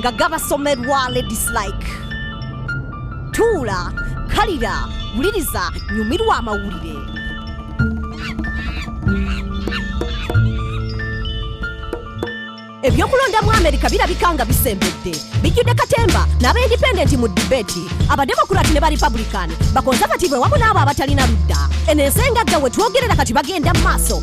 nga gabasomerwa ladies like tuula kalira wuliriza nyumirwa amawulire ebyokulonda mu amerika birabika nga bisembedde bijjudde katemba n'abaindipendenti mu dibeti abademokurati ne barepublican bakonsabative wamu n'abo abatalina ludda eno ensi engagga we twogerera kati bagenda mu maaso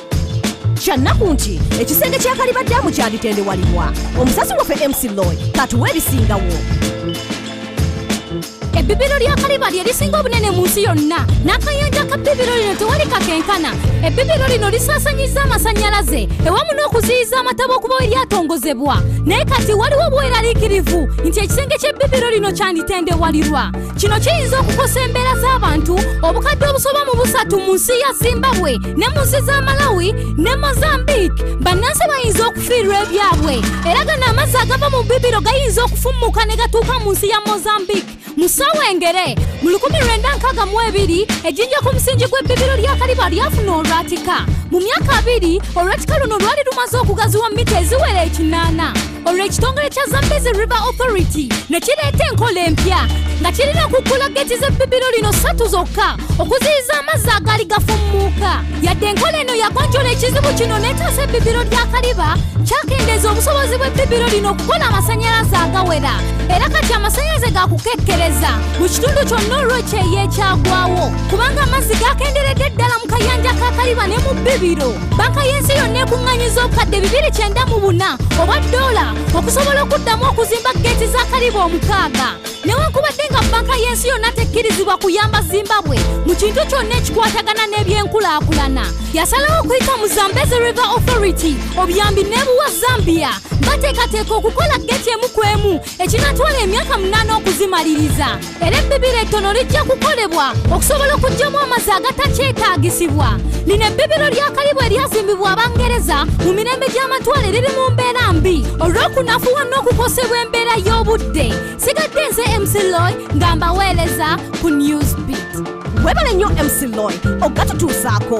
kyannaku nti ekisenge kya kaliba daamu kyalitendewalibwa omusasi waffe mc loy katuwa ebisingawo ebbibiro lya kaliba lye lisinga obunene mu nsi yonna n'akayanja ka bbibiro lino tewali kakenkana ebbibiro lino lisaasanyiza amasannyalaze ewamu n'okuziyiza amataba okuba eryatongozebwa naye kati waliwo obweraliikirivu nti ekisenge ky'ebbibiro lino kyanditendewalirwa kino kiyinza okukosa embeera z'abantu obukadde obusoba mu busatu mu nsi ya zimbabwe ne mu nsi za malawi ne mozambique bannansi bayinza okufiirwa ebyabwe era gano amazzi agava mu bibiro gayinza okufummuka ne gatuuka mu nsi ya mozambique mu ssaawa engere mu 1962 ejjinja ku musingi gw'ebbibiro lya kaliba lyafuna olwatika mu myaka abiri olwatika luno lwali lumaze okugaziwa mita eziwera ekinaana olwo ekitongole kya zambezi river authority ne kireeta enkola empya nga kirina okuggula geeti z'ebbibiro lino ssatu zokka okuziyiza amazzi agaali gafummuuka yadde enkola eno yagonjola ekizibu kino n'etaasa ebbibiro lya kaliba kyakendeeza obusobozi bw'ebbibiro lino okukola amasanyalaze agawera era kati amasanyalaze gakukekkereza mu kitundu kyonna olw'ekyeyo ekyagwawo kubanga amazzi gakenderedde ddala mu kayanja ka kaliba ne mu bbibiro banka y'ensi yonna ekuŋŋanyiza obukadde bibiri kyenda mu buna obwa ddoola okusobola okuddamu okuzimba geeti za kalibu omukaaga newankubadde nga banka y'ensi yonna tekkirizibwa kuyamba zimbabwe mu kintu kyonna ekikwatagana n'ebyenkulaakulana yasalawo okuyita mu zambezi river authority obuyambi n'ebuwa zambia bateekateeka okukola geeti emu ku emu ekinatwala emyaka munaana okuzimaliriza era ebbibiro ettono lijja kukolebwa okusobola okugyamu amazzi agatakyetaagisibwa lino ebbibiro lya kalibu eryazimbibwa abangereza mu mirembe gy'amatwale riri mu mbeera mbi olw'okunafuwa n'okukosebwa embeera y'obudde sigadde nze mcloy nga mbaweereza ku newsbit webale nnyo mcloy okugatutuusaako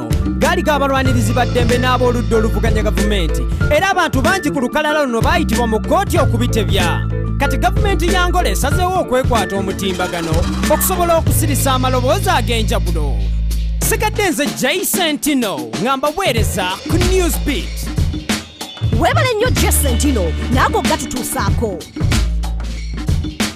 gaali g'abalwanirizi ba ddembe n'ab'oludda oluvuganya gavumenti era abantu bangi ku lukalala luno baayitibwa mu kkooti okubitebya kati gavumenti ya ngola esazeewo okwekwata omutimbagano okusobola okusirisa amaloboozi ag'enjawulo sigadde nze jaisentino nga mbaweereza ku newsbeat webale nnyo jesentino naago gatutuusaako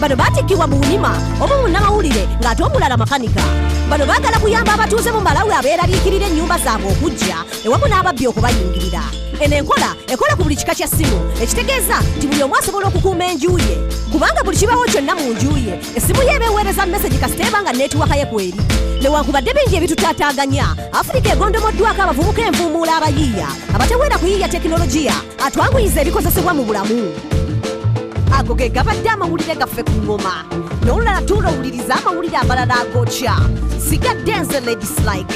bano batikkibwa mu bunima omu munnamawulire ng'ate omulala makanika bano baagala kuyamba abatuuze mu malawi abeeraliikirira ennyumba zaabwe okujja ewamu n'ababbi okubayingirira eno enkola ekola ku buli kika kya ssimu ekitegeeza nti buli omu asobola okukuuma enju ye kubanga buli kibawo kyonna mu nju ye essimu ye ebeeweereza mesegi kasita eba nga neetiwaka ye kweri newankubadde bingi ebitutaataaganya afirika egondomoddwako abavubuka envuumuula abayiiya abateweera kuyiiya tekinologiya atwanguyiza ebikozesebwa mu bulamu ago ge gabadde amawulire gaffe ku ngoma n'olulala tuula owuliriza amawulire amalala agokya sigadde nze ladislike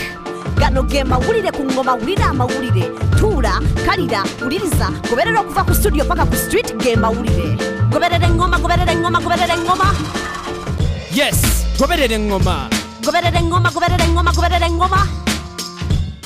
gano ge mawulire ku ngoma wulira amawulire tuula kalira wuliriza goberera okuva ku studio paka ku street ge mawulire goberera engoma goberera engoma goberera engoma yes goberera engoma goberera engoma goberera engoma goberera engoma